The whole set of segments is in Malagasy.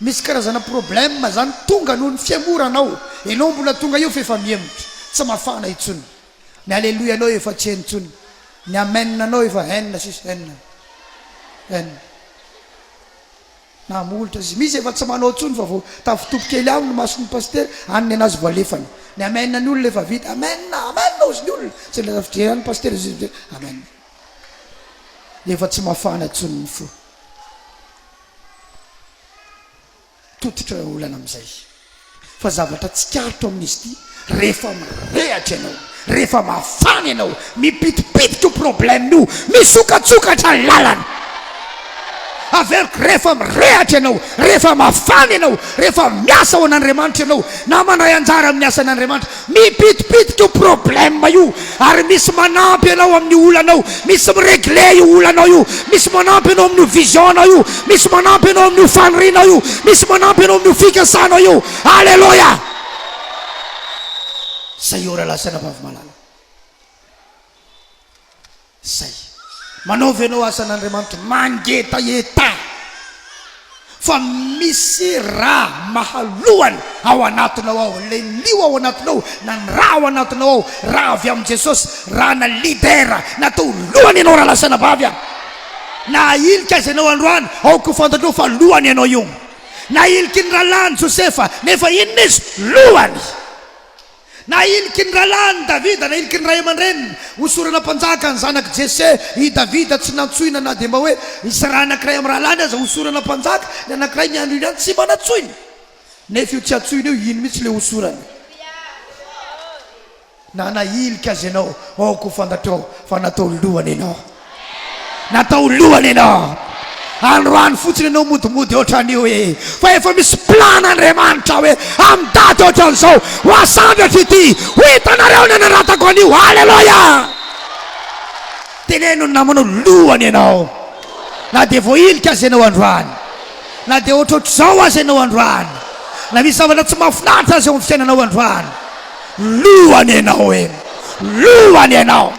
Misy karazana problème zany tonga noho ny fiangoran ao enao mbola tonga eo f'efa mihemotra tsy mafana intsony ny aleloia nao efa tsy heno intsony ny amen nao efa hen sisa hen hen na molotra sisa misy efa tsy manao intsony fa vao tafitopy kely aminy mason'ny pasitera any ny anazy vao alefany ny amen ny olona efa vita amen amen ozy ny olona tsy le tafijery any pasitera izy izy amen efa tsy mafana intsony ny fo Tototra ireo olana amin'izay fa zavatra tsikaritro amin'izy ity, rehefa mirehatra ianao, rehefa mafana ianao, mipitipitika io problème io, misokatsokatra ny lalana. Averiko, rehefa mirehatra ianao, rehefa mafana ianao, rehefa miasa ho an'Andriamanitra ianao, na mandray anjara amin'ny asan'Andriamanitra, Mipitipitika io problème io ary misy manampy anao amin'ny olanao, misy mi-regler io olanao io, misy manampy anao amin'io vision-nao io, misy manampy anao amin'io fanirianao io, misy manampy anao amin'io fikasanao io. Aleloia! Zay eo raha lahy sy anabavy malala. Izay. Manaova ianao asan'Andriamanitra mangetaheta fa misy ra mahalohany ao anatinao ao. Ilay lio ao anatinao na ny ra ao anatinao ao, ra avy amin'i Jesosy, ra na leader natao lohany ianao raha lasanà bavy aho. Na ahilika azy ianao androany, aoka ho fantatrao fa lohany ianao io. Nahiliky ny rahalahiny Josefa, nefa inona izy? Lohany. Na hiliky ny rahalahiny Davida na hiliky ny ray aman-dreniny hosorana mpanjaka ny zanak'i Jese. I Davida tsy nantsoina na dia mba hoe hisy raha anankiray amin'ny rahalahiny aza hosorana mpanjaka ny anankiray ny andro iny, tsy mba nantsoina. Nefa io tsy antsoina io, iny mihitsy ilay hosorana. Na nahilika aza ianao, aoka ho fantatrao fa natao lohany ianao. Natao lohany ianao. Androany fotsiny ianao modimody ohatran'io ee. Fa efa misy plan Andriamanitra hoe amin'ny daty ohatran'izao ho asamby hatr'ity ho hitanareo ny hanaratako an'io. Aleloia! Teneno ny namana hoe lohany ianao. Na dia vao ilika aza ianao androany. Na dia ohatrohatr'izao aza ianao androany. Na misy zavatra tsy mahafinaritra aza eo amin'ny fiainanao androany. Lohany ianao e! Lohany ianao!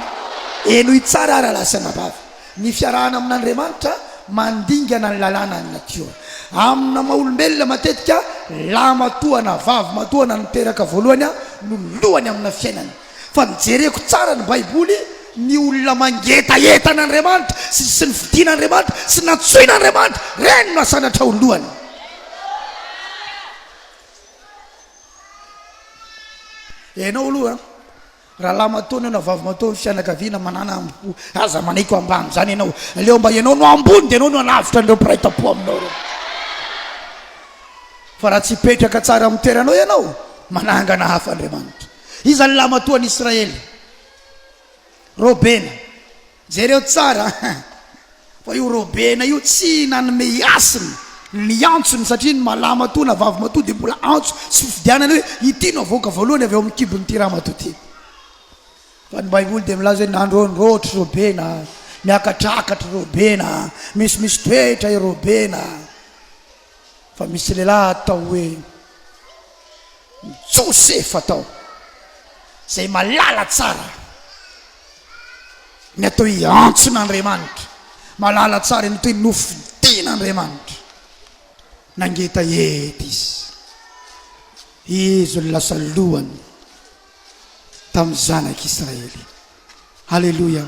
Henoy tsara ary alahy sy anabavy, ny fiarahana amin'Andriamanitra mandingana ny lalànan'ny natiora. Amina maha olombelona matetika, lahy matoa na vavy matoa na ny teraka voalohany no lohany amina fiainana. Fa ny jereko tsara ny baiboly, ny olona mangetaheta an'Andriamanitra sy sy nifidin'Andriamanitra sy nantsoin'Andriamanitra, reny no asandratra ho lohany. Ianao aloha rahalamatoa na ianao vavimatoa ny fianakaviana manana ambo aza manaiky ho ambany izany ianao aleo mba ianao no ambony dia ianao no alavitra an'ireo mpiray tampo aminao ireo fa raha tsy hipetraka tsara amin'ny toeranao ianao manangana hafa Andriamanitra iza ny lamatoan'i Israely Robena Jereo tsara fa io Robena io tsy nanome hasina ny antsony satria ny malahamatoa na vavimatoa dia mbola antso sy fifidianana hoe ity no havoaka voalohany avy ao amin'ny kibon'ity ramatoa ity. Fa ny Baiboly dia milaza hoe nandrôndrôtry Robena, niakatrakatry Robena, misimisy toetra i Robena. Fa misy lehilahy atao hoe Josefa tao, izay malala tsara ny atao hoe antson'Andriamanitra, malala tsara ny atao hoe nofidian'Andriamanitra. Nangeta ety izy. Izy no lasa lohany tamin'ny zanak'Israely. Aleloia!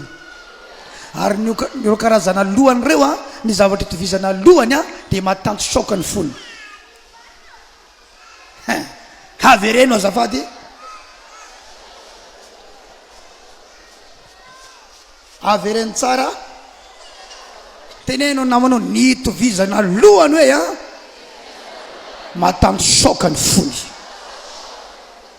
Ary ny ireo karazana lohany ireo a, ny zavatra itovizana lohany a, dia matanjotraoka ny fony. Hein, havereno azafady. Avereno tsara. Teneno namana ny itovizana lohany hoe a, matanjotraoka ny fony.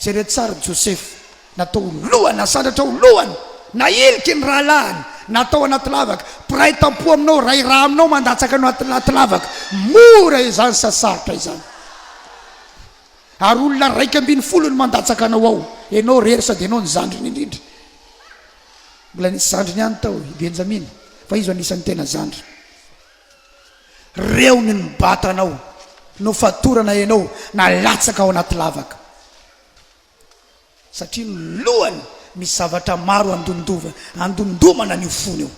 Jereo tsara i Josefa, natao ho lohany, nasandratra ho lohany, nahiliky ny rahalahiny, natao anaty lavaka. Mpiray tam-po aminao, ray rà aminao mandatsaka anao anaty lavaka, mora izany sa sarotra izany? Ary olona raika ambin'ny folo no mandatsaka anao ao, ianao irery sady ianao no zandriny indrindra. Mbola nisy zandriny ihany tao i Benjamina, fa izy no anisan'ny tena zandriny. Reo ny nibata anao, nofatorana ianao, nalatsaka ao anaty lavaka. Satria ny lohany misy zavatra maro andondova, andondomana an'io fony io.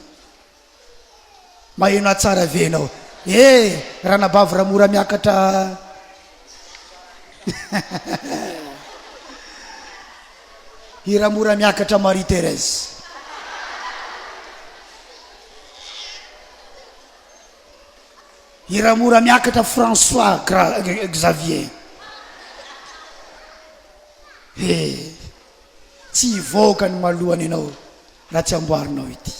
Maheno ahy tsara ve ianao? Eh! Ranabavy Ramora miakatra. Hira mora miakatra Marie Thérèse. Hira mora miakatra François Gra Xavier. He, tsy hivoaka ny malohany ianao. Na tsy amboarinao ity.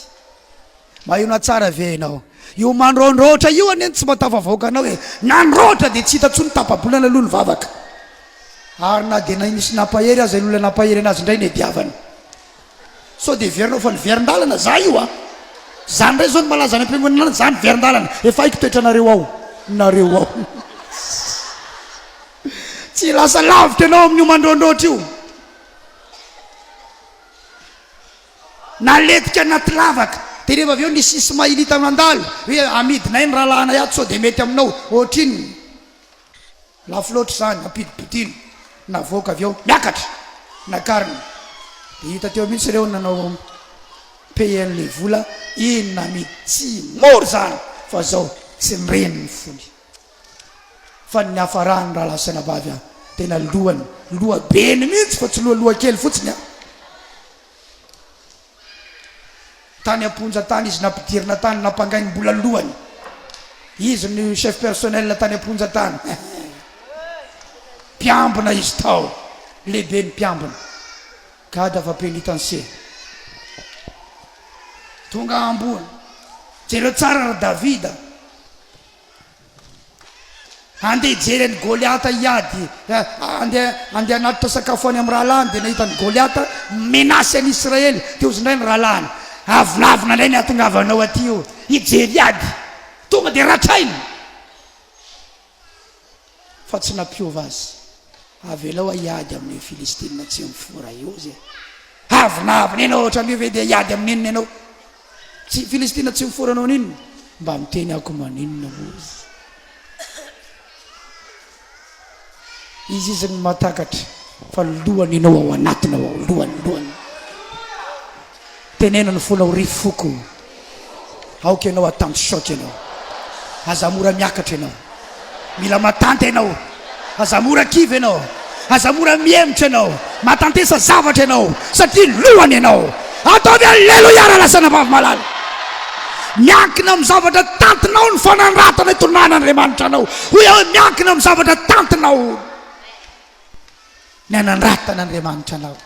Maheno tsara ve ianao? Io mandraondraotra io anie no tsy mba tafavoaka anao e! Nandraotra dia tsy hita intsony tapa-bolana aloha ny vavaka. Ary na dia nisy nampahery aza ilay olona nampahery anazy indray nediavana. Sao dia heverinao fa niverin-dalana za io a! Zany indray zao no malaza any am-piangonana any, za niverin-dalana. Efa haiko toetranareo ao. Nareo ao. Tsy lasa lavitra ianao amin'io mandraondraotra io. Naletika anaty lavaka. Dia rehefa avy eo nisy Ismailita nandalo hoe, Amidinay ny rahalahinay ato sao dia mety aminao. Ohatrinona? Lafo loatra izany. Ampidimpidiana. Navoaka avy ao. Miakatra. Nakarina. Dia hita teo mihitsy ireo nanao payer ilay vola. Inona mihitsy? Tsy mora izany. Fa izao. Tsy nireny ny fony. Fa ny niafarany rahalahy sy anabavy an! Tena lohany, lohabeny mihitsy fa tsy loha lohakely fotsiny an! Tany am-ponja tany izy nampidirina tany nampangainy mbola lohany! Izy no chef personnel tany am-ponja tany! Mpiambina izy tao! Lehibe ny mpiambina! Gada va penitencier! Tonga ambony! Jereo tsara ry Davida! Andeha hijery an'i Goliata hiady. Andeha andeha hanatitra sakafo any amin'ny rahalahiny, dia nahita an'i Goliata mi-menace an'i Israely. Dia hozy indray ny rahalahiny, Avonavona indray ny hahatongavanao aty io, hijery ady. Tonga dia ratrainy. fa tsy nampiova azy. Avelao hiady amin'ny Filistina tsy mifoha i Ozy e! Avy nahavina ianao ohatran'io ve dia hiady amin'inona ianao? Tsy Filistina tsy mifoha anao n'inona? Mba miteny ako maninona Ozy? Izy izy ny mahatakatra fa lohany ianao ao anatiny ao, lohany, lohany. Teneno ny fonao ry foko o! Aoka ianao hatanty choc ianao! Aza mora miakatra ianao! Mila matanty ianao! Aza mora kivy ianao! Aza mora mihemotra ianao! Matantesa zavatra ianao satria lohany ianao! Ataovy Alleluia raha lazaina Vavmalala! Miankina amin'ny zavatra tantinao ny fanandratana itondrana Andriamanitra anao! Hoy aho hoe miankina amin'ny zavatra tantinao! Ny hanandrata an' Andriamanitra anao.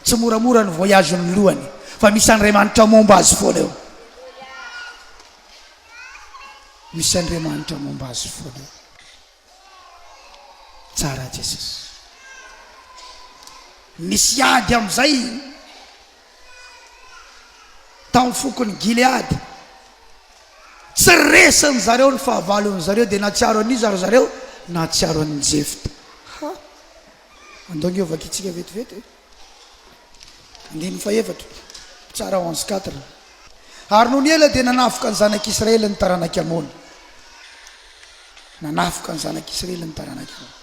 Tsy moramora ny voyage ny lohany fa misy Andriamanitra momba azy foana eo. Misy Andriamanitra momba azy foana eo. Tsara Jesosy. Misy ady amin'izay. tamin'ny fokon'i Gileada. Tsy resin-dry zareo ny fahavalon-dry zareo, dia nahatsiaro an'iza ry zareo? Nahatsiaro an'i Jefta. Ha! Andao ny hovakintsika vetivety e. Andininy fahefatra, tsara ho an'i Quatre. Ary nony ela dia nanafoka ny zanak'Israely ny taranak'i Amona. Nanafoka ny zanak'Israely ny taranak'i Amona.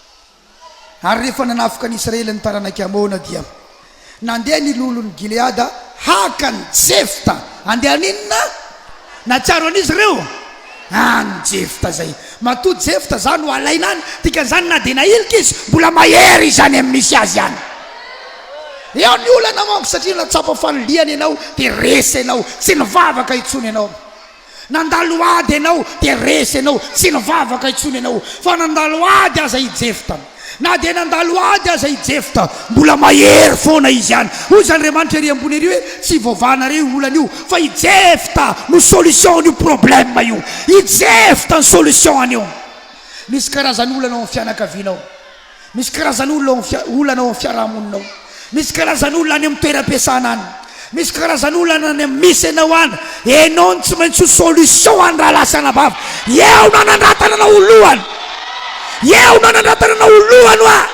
Ary rehefa nanafika ny Israely ny taranak'i Amôna, dia nandeha ny loholon'i Gileada haka an'i Jefta. Handeha haninona? Nahatsiaro an'iza ireo? An'i Jefta izay. Matoa Jefta izany no alaina any, dikan'izany na dia nahilika izy, mbola mahery izany amin'ny misy azy any. Eo ny olana manko, satria nahatsapa fa liana ianao, dia resa ianao, tsy nivavaka intsony ianao. Nandalo ady ianao dia resy ianao, tsy nivavaka intsony ianao fa nandalo ady aza i Jefta. Na dia nandalo ady aza i Jefta, mbola mahery foana izy ihany. Hoy izany Andriamanitra ery ambony ery hoe, Tsy ivoavahanareo io olana io, fa i Jefta no solution an'io problème io. I Jefta no solution anio. Misy karazan'olana ao amin'ny fianakavianao. Misy karazana olona ao amin'ny olana ao amin'ny fiarahamonina ao. Misy karazana olona any amin'ny toeram-piasana any. Misy karazana olana any amin'ny misy ianao any. Ianao no tsy maintsy ho solution any rahalahy sy anabavy. Eo no hanandratana anao ho lohany. Eo no hanandratana anao ho lohany hoa.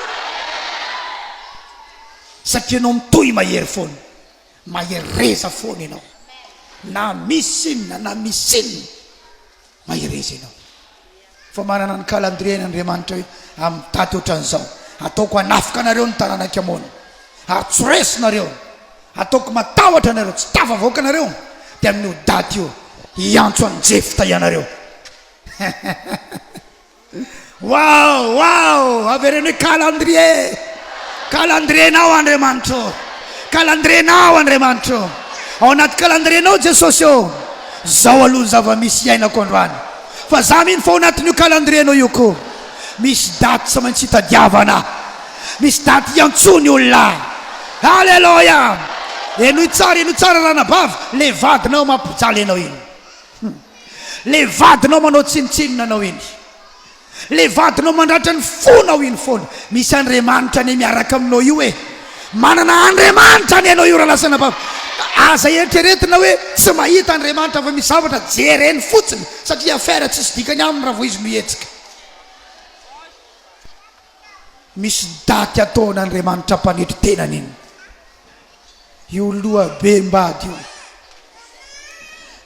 Satria ianao mitohy mahery foana. Mahereza foana ianao. Na misy inona na misy inona. Mahereza ianao fa manana ny calendrier-ny Andriamanitra hoe amin'ny daty ohatran'izao hataoko hanafika anareo ny taranak'i Amona ary tsy ho resinareo, hataoko matahotra anareo, tsy tafavoaka anareo, dia amin'io daty io hiantso an'i Jefta ianareo. Waouh waouh avereno hoe calendrier calendrier nao Andriamanitra ô calendrier nao Andriamanitra ô ao anaty calendrier nao Jesosy ô zao aloha ny zava-misy iainako androany fa za mino fa ao anatin'io calendrier nao io ko misy daty tsy maintsy hitadiavana misy daty hiantsoa ny olona Alléluia henoy tsara henoy tsara ranabavy le vadinao mampijaly anao iny Le vadinao manao tsinontsinona anao iny, le vadinao mandratra ny fonao iny foana, misy Andriamanitra anie miaraka aminao io e, manana Andriamanitra anie ianao io Ralasana Bava, aza eritreretina hoe tsy mahita Andriamanitra fa misy zavatra jereny fotsiny satria affaire tsisy dikany aminy raha vao izy no hihetsika. Misy daty ataon Andriamanitra mpanetry tenany iny io loha be mbady io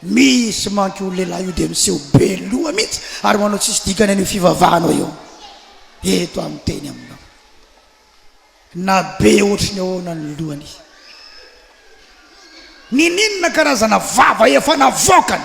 Misy manko io lehilahy io dia miseho be loha mihitsy ary manao tsisy dikany an'io fivavahanao io eto amin'ny teny aminao na be ohatry ny ahoana ny lohany Nininona karazana vava efa navoakany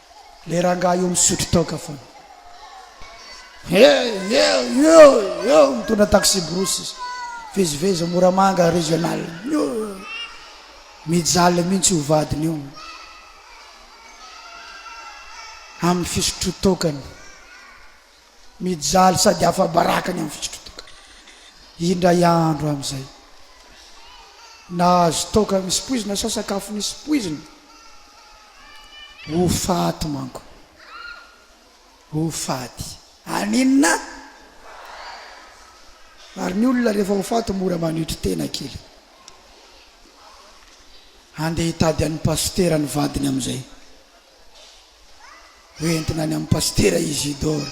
Le rangahy io misotro toaka fona. Hey, yeah, yeah, yeah, mitondra taxi brousse izy. Vezivezy Moramanga régional. Mijaly mihitsy io vadiny io. Amin'ny fisotro tokany. Mijaly sady afa-baraka ny amin'ny fitsoka-toaka. Indray andro amin'izay, nahazo toaka misy poizina sa sakafo nisy poizina? Ho faty manko. Ho faty. Haninona? Ary ny olona rehefa ho faty mora manetry tena kely. Handeha hitady an'i Pasitera ny vadiny amin'izay. ho entina any amin'ny Pasitera Isidore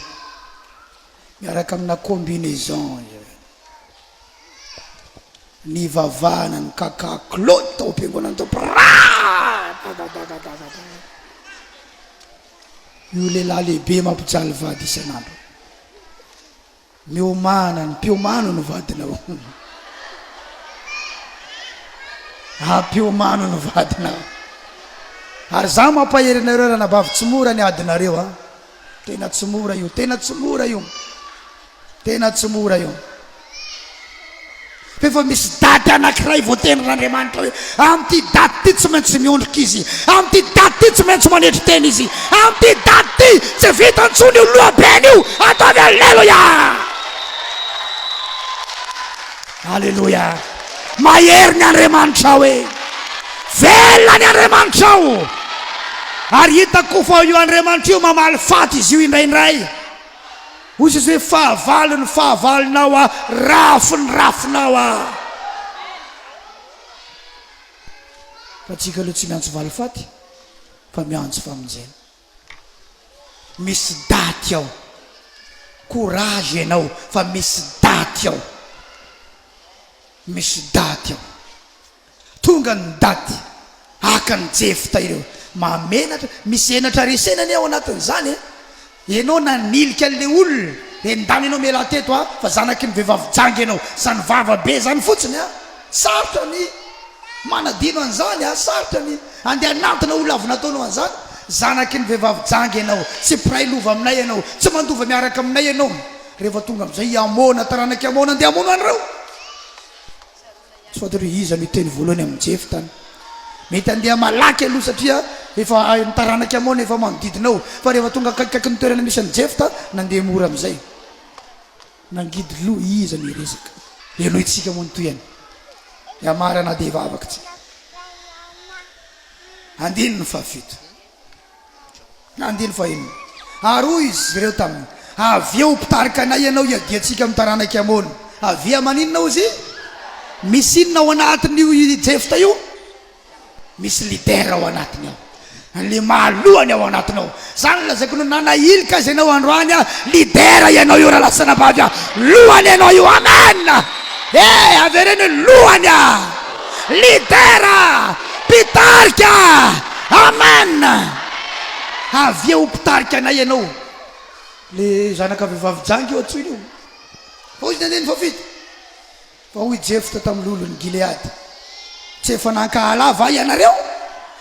miaraka amina combinaison izay. Nivavahana ny Kaka Claude tao am-piangonana tao Praha. Io lehilahy lehibe mampijaly vady isan'andro. Miomana ny mpiomano no vadinao. Haa mpiomano no vadinao. Ary za mampahery anareo ranabavy tsy mora ny adinareo a. Tena tsy mora io, tena tsy mora io, tena tsy mora io. Fa efa misy daty anankiray voatenin'Andriamanitra hoe, Amin'ity daty ity tsy maintsy miondrika izy, amin'ity daty ity tsy maintsy manetry tena izy, amin'ity daty ity tsy vita intsony io lohabeny io, ataovy Aleloia! Aleloia! Mahery ny Andriamanitrao e! Velona ny Andriamanitrao! Ary hitako koa fa io Andriamanitra io mamaly faty izy io indraindray. Hoy Jesosy, Fahavalony, fahavalonao aho, rafiny, rafinao aho. Fa antsika aloha tsy miantso valifaty fa miantso famonjena. Misy daty ao. Courage ianao fa misy daty ao. Misy daty ao. Tonga ny daty haka ny jefta ireo mahamenatra, misy henatra resena anie ao anatiny zany e! Enao nanilika anle olona e ndany enao mela teto a! Fa zanaky ny vevavy janga enao, zany vava be zany fotsiny a! Sarotra ny manadino anzany a! Sarotra ny ande hanantona olona avy nataonao anzany! Zanaky ny vevavy janga enao, tsy mpiray lova aminay enao, tsy mandova miaraka aminay enao! Rehefa tonga amzay i Amona, taranaky Amona ande hamono anreo! Tsy fantatro hoe iza no hiteny voalohany amin'i Jefta any. Mety handeha malaky aloha satria efa hain'ny taranak'i Amona efa manodidina ao. Fa rehefa tonga akaikikaiky ny toerana misy an'i Jefta, nandeha mora amin'izay. Nangidy loha iza no hiresaka? Henointsika moa ny tohiny. Hiamarana dia hivavaka isika. Andininy fahafito. Na andininy fahenina. Ary hoy izy ireo taminy, Avia ho mpitarika anay ianao hiadiantsika amin'ny taranak'i Amona. Avia maninona hozy i? Misy inona ao anatin'io i Jefta io? Misy leader ao anatiny ao. Ilay mahalohany ao anatiny ao. Izany no lazaiko ny nanahilika azy ianao androany aho. Leader ianao io rahalahy sy anabavy an! Lohany ianao io. Amen! Ee, avereno hoe, Lohany an! Lidera! Mpitarika! Amen! Avia ho mpitarika anay ianao. Le zanaka vehivavy janga io antsoina io. Fa hoy ny andininy fahafito, Fa hoy Jefta tamin'ny lolon'i Gileada, Tsy efa nankahala ahy va ianareo,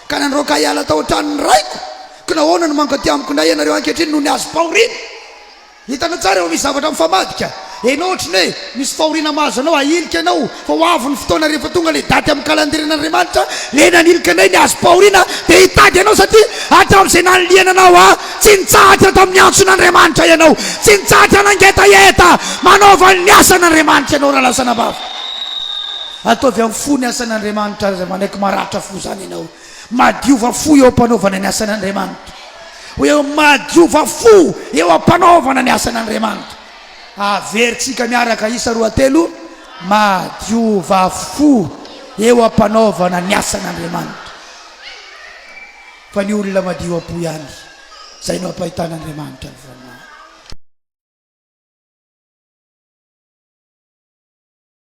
ka nandroaka ahy hiala tao an-tranon'ny raiko? Ka nahoana no mankaty amiko indray ianareo ankehitriny noho ny hazom-pahoriana? Hitanao tsara efa misy zavatra mifamadika enao ohatry ny hoe misy fahoriana mahazo anao ahilika enao fa ho avy ny fotoana rehefa tonga ilay daty amin'ny kalandirian' Andriamanitra ilay nanilika anay ny hazom-pahoriana dia hitady anao satria hatramin'izay nanilihana anao aho tsy nitsahatra tamin'ny antson' Andriamanitra ianao tsy nitsahatra nangetaheta manaova ny asan' Andriamanitra ianao raha lasana-bava ataovy amin'ny fo ny asan' Andriamanitra aza manaiky maratra fo izany ianao Madiova fo eo am-panaovana ny asan' Andriamanitra. Hoe madiova fo eo am-panaovana ny asan' Andriamanitra. Averintsika miaraka isa roa telo, Madiova fo eo am-panaovana ny asan' Andriamanitra. Fa ny olona madio am-po ihany, izay no ampahitan' Andriamanitra ny voninahiny.